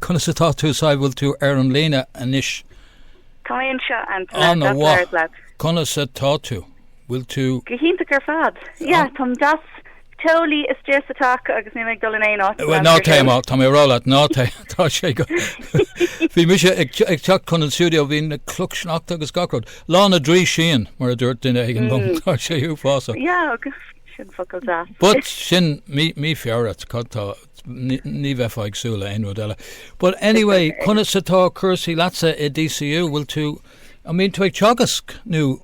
Conas atá tú? An bhfuil tú ar an líne anois? Tá mé anseo, Antaine. An-mhaith. Conas atá tú? Bhfuil tú? Go hiontach ar fad. Yeah, táim deas. Teolaí is teas atá acu agam is níl mé ag dul in aon áit. Bhuel, ná téigh amach, tá mé ag rá leat, ná téigh, tá sé go. Bhí mise ag teacht chun an stiúideo, bhí na clocha sneachta agus gach rud. Lá na dtrí síon, mar a dúirt duine ag an lón, tá sé uafásach. Yeah, agus sin focal deas. But sin mí Feabhra, tá Ní bheifeá ag súil le aon rud eile. But anyway, conas atá cúrsaí leatsa i DCU? Bhfuil tú, an mbíonn tú ag teagasc nó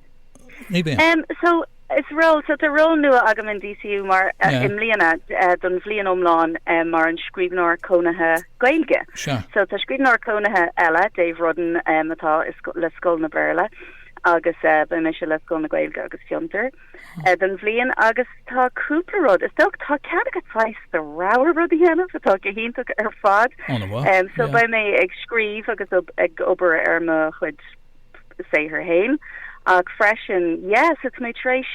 ní bhíonn? Um, so, is ról, so tá ról nua agam in DCU mar, uh, yeah. i mbliana, uh, don bhliain iomlán, um, mar an scríbhneoir cónaithe Gaeilge. Sure. So, tá scríbhneoir cónaithe eile, Dave Rudden, um, atá le Scoil an Bhéarla, agus, uh, beidh mise le Scoil na Gaeilge agus Fiontar. don bhliain agus tá cúpla rud, is dócha, tá cead agat saghas do rogha rud a dhéanamh atá go hiontach ar fad. Ó an-mhaith, yeah. So beidh mé ag scríobh agus ag obair ar mo chuid saothar féin ach freisin, yeah, so tá mé tar éis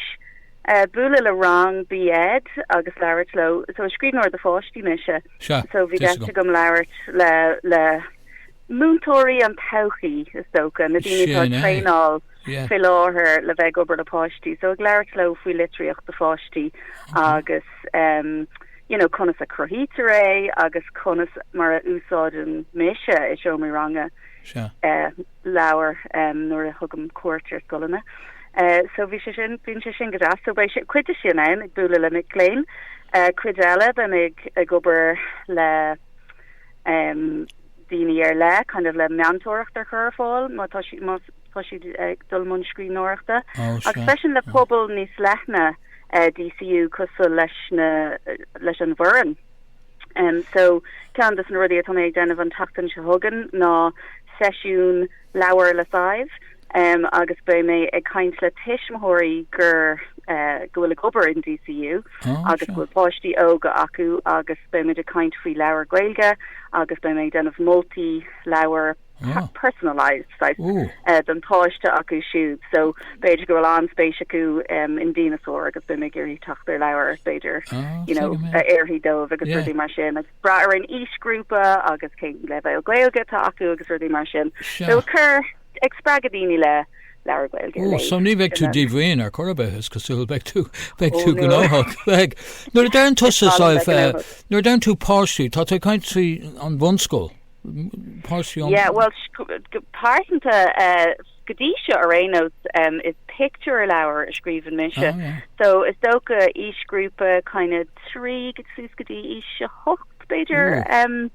bualadh le rang B Ed agus labhairt leo, so is scríbhneoir do pháistí mise, so bhí deis agam labhairt le múinteoirí na todhchaí, is dócha, na daoine atá ag traenáil. fé láthair le bheith ag obair le páistí so ag labhairt leo faoi litríocht do pháistí agus you know conas a chruthaítear é agus conas mar a úsáideann mise i seomraí ranga leabhair nuair a thugaim cuairt ar scoileanna so bhí sé sin bíonn sé sin go deas so beidh cuid de sin ann ag bualadh le mic léinn cuid eile beidh mé ag obair le daoine ar leith kind of le meantóireacht a chur ar fáil má tá sí más tá siad ag dul i mbun scríbhneoireachta agus freisin le pobal níos leithne DCU cosúil leis an bhfoireann. So, ceann dos na rudaí atá mé ag déanamh an tseachtain seo chugainn ná seisiún Labhair le Sadhbh agus beidh mé ag caint le tuismitheoirí gur, go bhfuil ag obair in DCU agus go bhfuil páistí óga acu agus beimid ag caint faoi leabhair Gaeilge agus beidh mé ag déanamh moltaí leabhar. personalised type don páiste acu siúd. So b'fhéidir go bhfuil an-spéis acu in díneasáir agus beimid ag iarraidh teacht ar leabhar b'fhéidir you know a oirfidh dóibh agus rudaí mar sin agus brath ar an aoisghrúpa agus cén leibhéal Gaeilge atá acu agus rudaí mar sin. So just ag spreagadh daoine le leabhair Gaeilge a léamh. Ó so ní bheidh tú díomhaoin ar chor ar bith is cosúil beidh tú beidh tú gnóthach. Beidh. Nuair a deireann tusa nuair a deireann tú páistí tá tú ag caint faoi an bhunscoil. páistí ón. Yeah, well, pearsanta, go dtí seo ar aon nós, is pictiúrleabhar a scríobhann mise. Oh, yeah. So, is dócha aoisghrúpa kind of trí go suas go dtí aois a hocht, b'fhéidir. Ooh.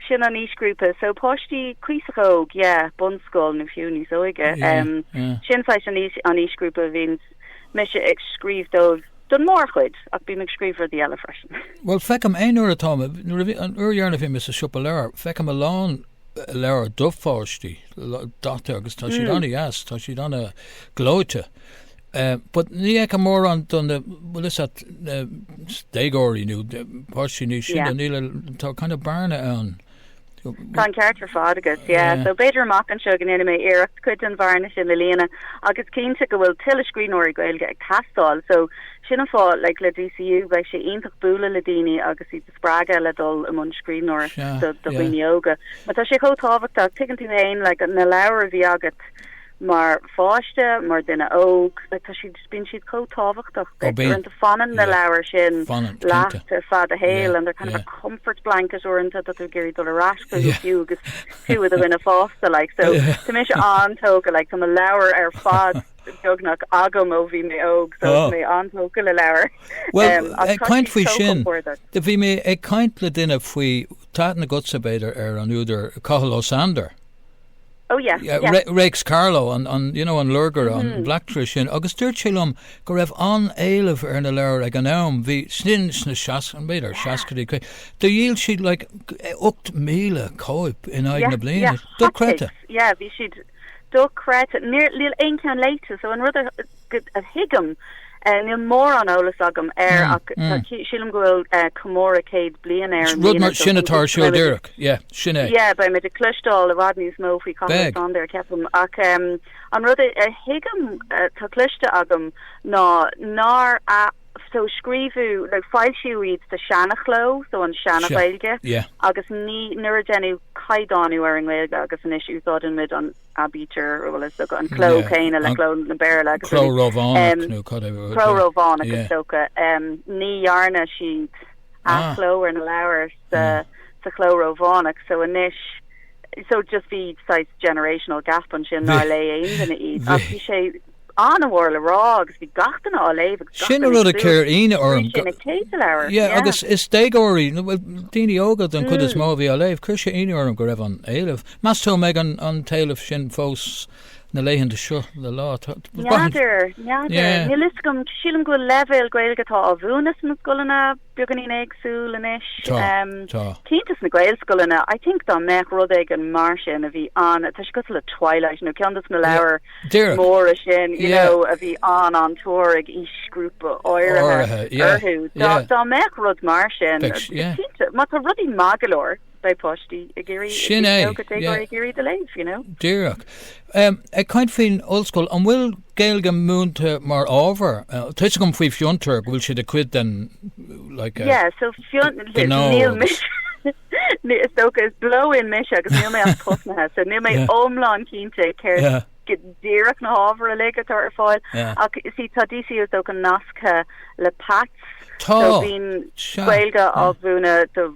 Sin an aoisghrúpa. So, páistí cuíosach óg, yeah, bunscoil nó fiú níos óige. Yeah, yeah. Sin saghas an aois, an aoisghrúpa a bhíonns. mise ag scríobh dóibh don mórchuid, ach bím ag scríobh rudaí eile freisin. Bhuel, feicim, aon uair atá, nuair a bhí, an uair dheireanach a bhí mé sa siopa leabhar, feicim a lán leabhar do pháistí, daite agus tá siad an-deas, tá siad an-ghleoite. But ní fheicim mórán do na, bhfuil 'fhios agat na déagóirí nó páistí níos sine, níl, tá kind of bearna ann. Tá an ceart ar fad agat, yeah. So b'fhéidir amach anseo go ndéanfaidh mé iarracht cuid den bhearna sin le líonadh agus cinnte go bhfuil tuilleadh scríbhneoirí Gaeilge ag teastáil. So sin an fáth, like, le DCU bheadh sé iontach bualadh le daoine agus iad a spreagadh le dul i mbun scríbhneoireacht do dhaoine óga. Mar tá sé chomh tábhachtach, tuigeann tú féin, like, na leabhair a bhí agat, mar pháiste, mar duine óg, tá siad, bíonn siad chomh tábhachtach duit. Uaireanta fanann na leabhair sin leat ar feadh do shaoil and they're kind of a comfort blanket, uaireanta tá tú ag iarraidh dul ar ais chucu fiú agus tú i do dhuine fásta like. So tá mise an-tógtha like, tá mo leabhar ar fad beagnach agam ó bhí mé óg so tá mé an-tógtha le leabhair. Bhuel, ag caint faoi sin, bhí mé ag caint le duine faoi, tá aithne agatsa b'fhéidir ar an údar Cathal Ó Sándair. Oh yeah, yeah, yeah. Re, Réics Carló, an, an, you know, an lorgaire, mm-hmm. an mm-hmm. bleachtaire sin, agus dúirt sé liom go raibh an-éileamh ar na leabhair ag an am, bhí sin sna seas, b'fhéidir yeah. seascaidí, do dhíol siad like, 8,000 cóip in aghaidh yeah, na bliana, yeah, dochreidte. Yeah, bhí siad dochreidte, níl aon ceann léite, so an rud a thuigim, níl mórán eolas agam air ach sílim go bhfuil comóradh céad bliain air an bhliain seo. Rud mar sin atá ar siúl díreach, yeah, sin é. Yeah, beidh muid ag cloisteáil i bhfad níos mó faoi Cathal Sándair, ceapaim, ach an rud a thuigim, atá cloiste agam, ná nár, yeah, so scríobhadh, nó foilsíodh iad sa seanachló, so an seana-Ghaeilge, agus ní, nuair a deineadh caighdeánú ar an nGaeilge, agus anois úsáideann muid an, aibítir, bhuel is dócha an cló céanna le cló na Béarla agus rud éigin. Cló Rómhánach nó cad é rud é. Cló Rómhánach is dócha. Ní dhearna siad athchló ar na leabhair sa chló Rómhánach so anois so just bhí saghas generational gap ansin nár léigh aon duine iad ach bhí sé an-mhór le rá agus bhí gach duine á léamh agus gach duine ag súil, sin an rud a chuir ionadh orm, go bhfuair sé na céadta leabhar. Yeah Yeah. agus is déagóirí, nó bhuel daoine óga den chuid is mó a bhí á léamh. Chuir sé ionadh orm go raibh an-éileamh. Meas tú an mbeidh an an t-éileamh sin fós na laethanta seo le lá? Tá N'fheadar, n'fheadar. Yeah. Níl 'fhios agam, sílim go bhfuil leibhéal Gaeilge atá á mhúineadh sna scoileanna, beagáinín éagsúil anois. Tá, tá. cinnte sna Gaelscoileanna, I think dá mbeadh rud éigin mar sin a bhí an, tá sé cosúil le Twilight nó ceann dos na leabhair Díreach. móra sin, you Yeah. know, a bhí an an-tóir ag aoisghrúpa áirithe Áirithe, yeah, orthu, dá yeah. dá mbeadh rud mar sin, Beidh, yeah. cinnte, má tá rudaí maith go leor, beidh páistí ag iarraidh, is Sin é, minic go dtéigfear yeah. ag iarraidh iad a léamh, you know. Díreach. Um, ag caint faoin ollscoil, an bhfuil Gaeilge múinte mar ábhar? Uh, Tá a fhios agam faoi Fiontar go bhfuil siad a cuid den like, uh, Yeah, so fion, gnó níl agus- mise, ní- is dócha is blow in mise agus níl mé ach tosnaithe, so níl mé Yeah. iomlán cinnte céard Yeah. go díreach na hábhair uilig atá ar fáil, Yeah. ach is í tá DCU is dócha nasctha le Pats, Tá. so bíonn Sea. Gaeilge á mhúineadh do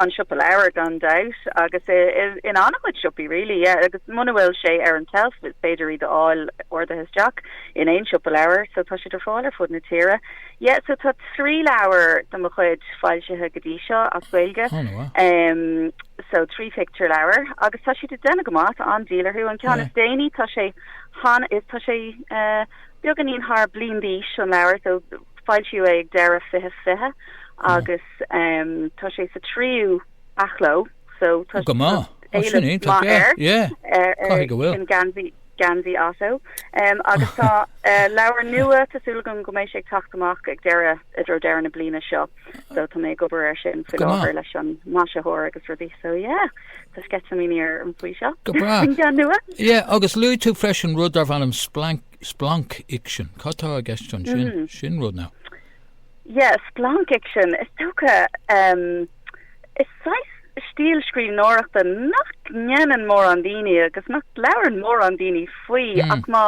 an siopa leabhar gan dabht agus in an-chuid siopaí really yeah agus muna bhfuil sé ar an tseilf is féidir iad a fháil ordaithe isteach in aon siopa leabhar so tá siad ar fáil ar fud na tíre yeah so tá trí leabhar de mo chuid foilsithe go dtí seo as Gaeilge oh, wow. um, so trí pictiúr leabhar agus tá siad ag déanamh go maith tá an-díol orthu an ceann yeah. is déanaí tá sé han is tá sé uh, beagáinín thar bliain d'aois an leabhar so foilsíodh é ag deireadh 2020 agus agus um, tá sé sa tríú athchló, so tá Go maith. Ó, sin é, tá sé, yeah. ar, ar Caithfidh go bhfuil. sin Geansaí, Geansaí Ottó. Um, agus tá uh, leabhar nua, tá súil agam go mbeidh sé ag teacht amach ag deireadh, i dtreo deireadh na bliana seo, so tá mé ag obair ar sin faoi Go maith. láthair leis an maisitheoir agus rudaí, so yeah, tá sceitimíní orm faoi seo. Go breá. An ceann nua. Yeah, agus luaigh tú freisin rud darb ainm splanc, splancfhicsean. Cad tá i gceist ansin? Sin rud nua. Yeah, Splanc Fhicsean, is dócha, em, is saghas stíl scríbhneoireachta nach ndéanann mórán daoine agus nach labhrann mórán daoine faoi ach má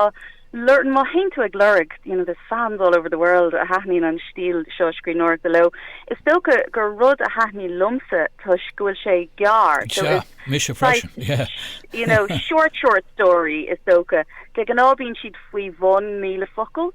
lorg, má théann tú ag lorg, you know, there's fans all over the world a thaitníonn an stíl seo scríbhneoireachta leo, is dócha gur rud a thaitnigh liomsa toisc go bhfuil sé gearr, so Sea, is mise freisin, saghas, yeah. you know, short, short story, is dócha. De ghnáth bíonn siad faoi bhun míle focal.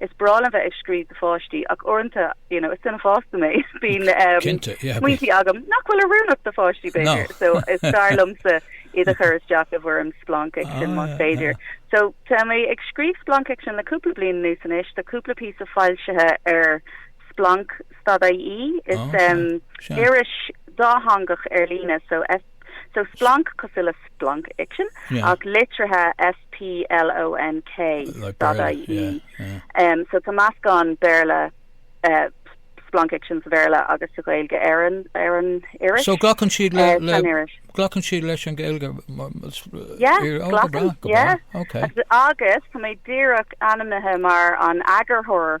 Is breá liom bheith ag scríobh do pháistí ach uaireanta, you know, is duine fásta mé, bíonn smaointí agam nach bhfuil oiriúnach do pháistí b'fhéidir, so is fearr liomsa iad a chur isteach i bhfoirm splancfhicsean más féidir. So, tá mé ag scríobh splancfhicsean le cúpla bliain anuas anois, tá cúpla píosa foilsithe ar Splonk stad IE, is iris dátheangach ar líne, so, So Splonk cosúil le splancfhicsean ach litrithe S-p-l-o-n-k stad-i-e yeah so tá meascán Béarla splancfhicsean sa Bhéarla agus sa Ghaeilge ar an ar an iris. So glacann siad le glacann siad leis an Gaeilge yeah yeah agus tá mé díreach ainmnithe mar an eagarthóir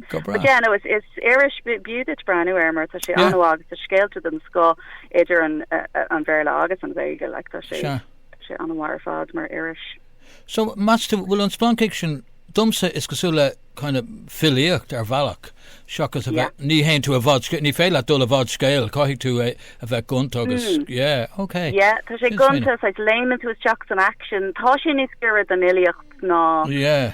Go breá. But yeah no it's it's iris b'fhiú duit breathnú air mar tá sé Yeah. an-mhaith agus tá scéalta den scoth idir an uh, an Béarla agus an Ghaeilge like tá sé Sea. tá sé an-mhaith ar fad mar iris. So meas tú, bhfuil an splanc-fhicsean, domsa is cosúla le kind of filíocht ar bhealach, seachas a Yeah. bheith, ní théann tú i bhfad sc-, ní féidir leat dul i bhfad scéil, caithfidh tú é a bheith gonta agus, yeah, ok. Yeah tá sé gonta, so it's léimeann tú isteach san aicsean, tá sé níos gaire don fhilíocht ná Yeah.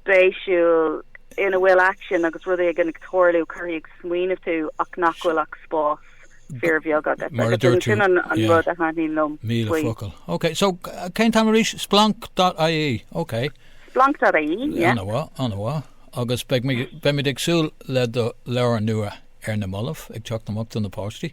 spéisiúil ina bhfuil aicsean agus rud éigin ag tarlú, a chuirfidh ag smaoineamh tú ach nach bhfuil ach spás fíor bheag agat. Mar a dúirt tú. Sin an rud a thaitníonn liom faoi. Míle focal. Ok, so cén t-am arís? Splanc.ie, ok. Splanc.ie, yeah. An-mhaith, an-mhaith. Agus beimid ag súil le do leabhar nua ar na mallaibh, ag teacht amach do na páistí.